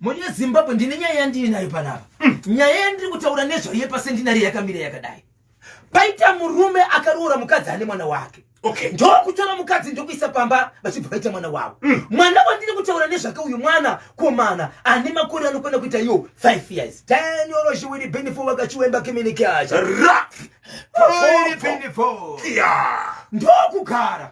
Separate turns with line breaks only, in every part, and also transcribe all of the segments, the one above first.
Mune Zimbabwe ndine nyaya yandiri nayo panapa. Mm. Nyaya yandiri kutaura nezvayo yepasentinari yakamira yakadai. Paita murume akaroora mukadzi ane mwana wake. Okay. Ndokutora
mukadzi
ndokuisa pamba vachibva vaita mwana wavo. Mm. Mwana wandiri kutaura nezvake uyu mwana komana ane makore anokwana kuita iyo 5 years. Daniel Oshiwiri Benifo wakachiwemba kimini kacha. Ra! Oshiwiri Benifo. Kia! Ndokugara.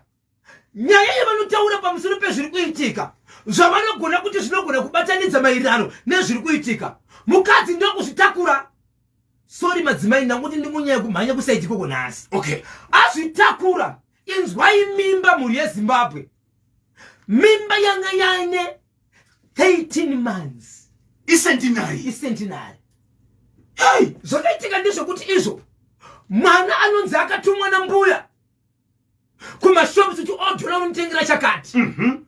nyaya yavanotaura pamusoro pezviri kuitika zvavanogona kuti zvinogona kubatanidza maererano nezviri kuitika mukadzi ndokuzvitakura sori madzimai ndakuti ndimunyaya kumhanya kusaiti koko nhasi okay
azvitakura
inzwai mimba mhuri yezimbabwe mimba yanga yaine 13 months icentinary icentinary hey! zvakaitika ndezvekuti izvo mwana anonzi akatumwa nambuya kumashops kuti odhura unotengera chakati mm -hmm.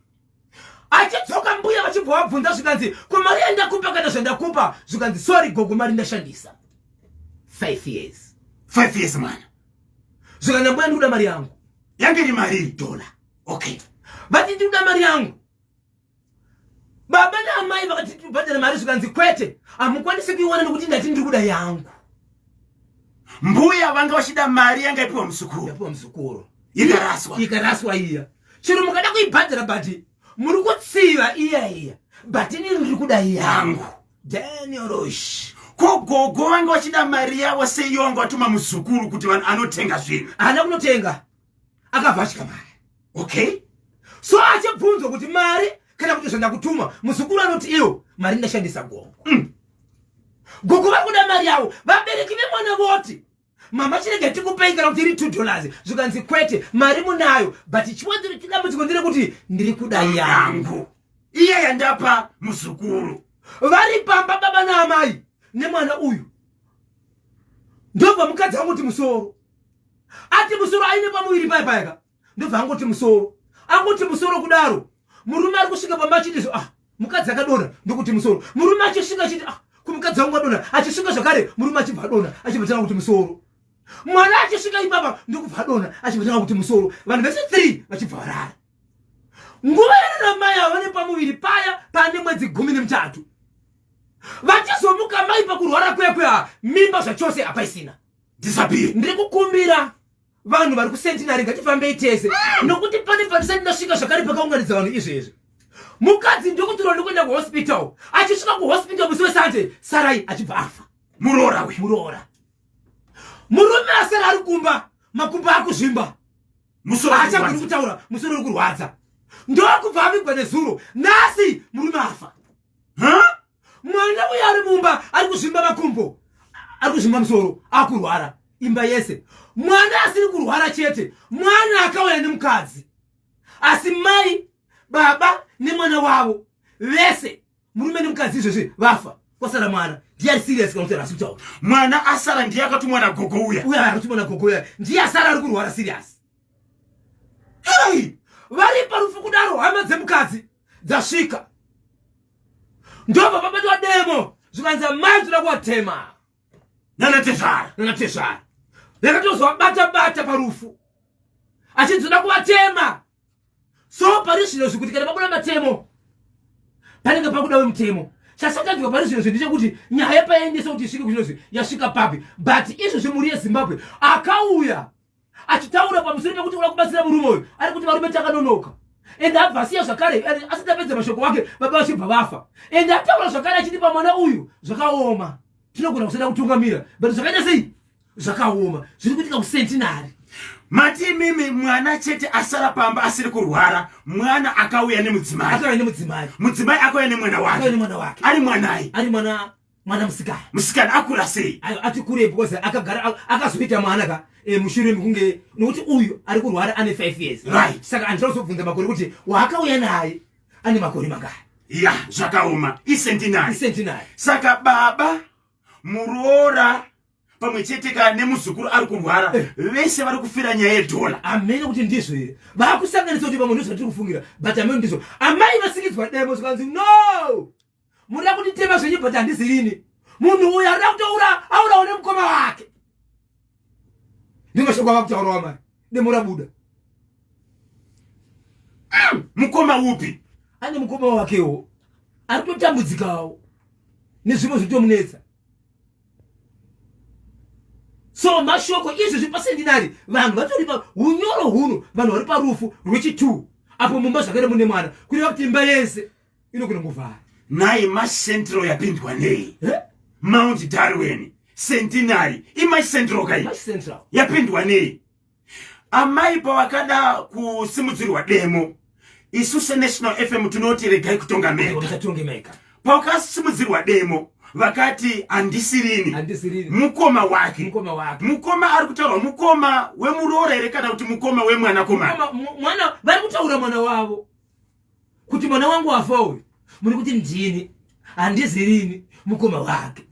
achidzoka mbuya vachibva vabvunza zvikanzi ko mari yandakupa kana zvandakupa zvikanzi sorry gogo mari ndashandisa five years five years mwana
zvikanzi
mbuya ndikuda mari yangu yange iri mari iri
dhola okay vati ndikuda
mari yangu baba naamai vakati tibhadhare mari zvikanzi kwete hamukwanisi kuiwana nekuti ndati ndiri kuda yangu mbuya
vanga vachida mari yanga ipiwa muzukuru ipiwa muzukuru
ikaraswa ikaraswa
iya chero
mukada kuibhadhara but muri kutsiva iya iya but ini ndiri kuda yangu daniorosh ko gogo
vanga vachida mari yavo seiyo vanga vatuma muzukuru kuti anotenga zvinhu haana kunotenga
akabva achika mari okay
so
achibvunzwa kuti mari kana kuti zvandakutuma muzukuru anoti iwo mari ndashandisa gongo mm. gongo vari kuda mari yavo vabereki vemwana voti mama chirega tikupei kana kuti iri two dollars zvikanzi kwete mari munayo but chiwanziro chidambudziko ndire kuti ndiri kuda yangu iye yandapa
muzukuru vari pamba
baba naamai nemwana uyu ndobva mukadzi vangu kuti musoro ati musoro aine pamuviri paye payaka ndobva angoti musoro angoti musoro kudaro murume ari kusvika pamba achiti zvo ah mukadzi akadona ndokuti musoro murume achisvika achiti ah kumukadzi wangu adona achisvika zvakare murume achibva adona achibva tanga kuti musoro mwana achisvika ipapa ndokubva adona achibva tanga kuti musoro vanhu vese three vachibva varara nguva yaranamai ava vane pamuviri paya pane mwedzi gumi nemutatu vachizomuka mai pakurwara kwekwe a mimba zvachose hapaisina disappear ndiri
kukumbira
vanhu vari kusentinary ngatifambei tese mm. nokuti pane patisati ndasvika zvakare pakaunganidza vanhu izvezvi mukadzi ndokutirwa ndokuenda kuhospital achisvika kuhospital musi wesande sarai achibva afa muroora uyu muroora murume asara ari kumba makumba akuzvimba achagoni kutaura musoro uri kurwadza ndokubva avigwa nezuro nhasi murume afa mwana uyo ari mumba ari kuzvimba makumbo ari kuzvimba musoro akurwara imba yese mwana asiri kurwara chete mwana akauya nemukadzi asi mai baba nemwana wavo vese murume nemukadzi izvezvi vafa kwasara mwana ndiye ari serious kana kuti arasi kutaura mwana asara
ndiye akatumwa nagogo uya uya akatumwa nagogo uya
ndiye asara ari kurwara serious hei vari parufu kudaro hama dzemukadzi dzasvika ndobva pabatwa demo zvikanzi amai toda kuvatema nanatezvara nanatezvara yakatozovabata bata parufu achinzi toda kuvatema so pari zvino zvikuti kana pabuda matemo panenge pakuda wemutemo chasakadyiwa pari zvino zvendechekuti nyaya payaendesa kuti isvike kuchinozi yasvika papi but izvozvi mhuri yezimbabwe akauya achitaura pamusoro pekuti uda kubatsira murume uyu ari kuti varume takanonoka ende abva asiya zvakare asati apedza mashoko wake baba vachibva vafa ende ataura zvakare achiti pamwana uyu zvakaoma tinogona kusada kutungamira but zvakaita sei zvakaoma zviri kuitika kusentinari mati
imimi mwana chete asara pamba asiri kurwara mwana akauya nemudzimai mudzimai akauya nemwana wake ari mwanai ari mwana mwana musikana musikana akura sei ati kure because
akagara akazoita mwana ka eh, mushure mekunge nokuti uyu ari kurwara ane five years right saka andida kuzobvunza
makore
kuti waakauya naye ane makore mangaya ya zvakaoma
isentinai isentinai saka baba muroora pamwe chete ka nemuzukuru ari kurwara eh. vese vari kufira nyaya yedhola amene kuti ndizvo here
vakusanganisa kuti pamwe ndizvo vatiri kufungira but amene ndizvo amai vasikidzwa demo zvikanzi no Munoda kunditema zvenyu but handizivi ini. Munhu uyu anoda kutoura aurawo nemukoma wake. Ndimashoko ava kutaurawa mari. Demo rabuda.
Mm,
mukoma upi?
Ane mukoma
wakewo. Ari kutotambudzikawo nezvimwe zvitomunetsa. So mashoko izvi zviri pasendinari vanhu vatori pa unyoro huno vanhu vari parufu rwechi 2 apo mumba zvakare mune mwana kureva kuti imba yese inogona kuvhara nhai macentral
yapindwa nei mount darwin centenary imacentral kai yapindwa nei amai pavakada kusimudzirwa demo isu senational fm tinoti regai kutonga meka pavakasimudzirwa demo vakati handisirini mukoma wake mukoma ari kutaurwa mukoma wemuroora here kana kuti mukoma wemwanakomana vari
kutaura mwana wavo kuti mwana wangu wafa uyu muri kuti ndini handizirini mukoma wake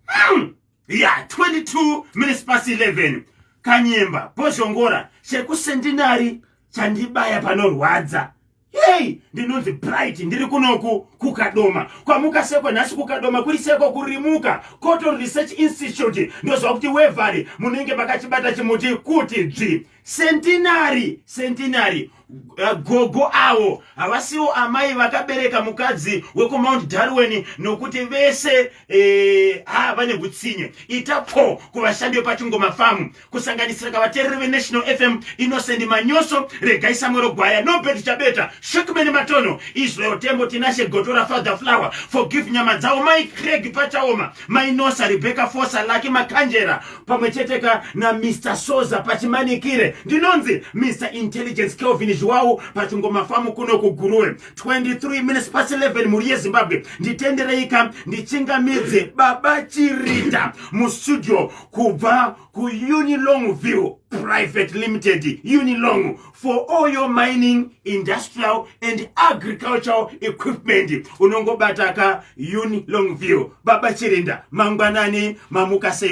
hmm. ya
22 minutes past 11 kanyemba bozhongora chekusendinari chandibaya panorwadza hei ndinonzi bright ndiri kunoku kukadoma kwamuka seko nhasi kukadoma kuri seko kurimuka coton research institute ndoziva kuti wevari munenge makachibata chimuti kuti dzvi Centenary, centenary. Uh, gogo avo havasiwo amai vakabereka mukadzi wekumount darwin nokuti vese eh, ha vane hutsinye ita pho kuvashandi vepachingoma famu kusanganisira kavatereri venational fm innocent manyoso regai samwero gwaya nobert chabeta shukmeni matono israel tembo tinashe gotora father flower forgive nyama dzavo mai creg pachaoma mainosa rebecca fosa laki makanjera pamwe chete ka namr soza pachimanikire ndinonzi mr intelligence kelvin zviwawu pachingomafamu kuno kuguruwe 23 minutes pasi 11 mhuri yezimbabwe nditendereika ndichingamidze baba chirita mustudio kubva kuunilong view private limited unilong for all your mining industrial and agricultural equipment unongobataka uni long view baba chirinda mangwanani mamuka sei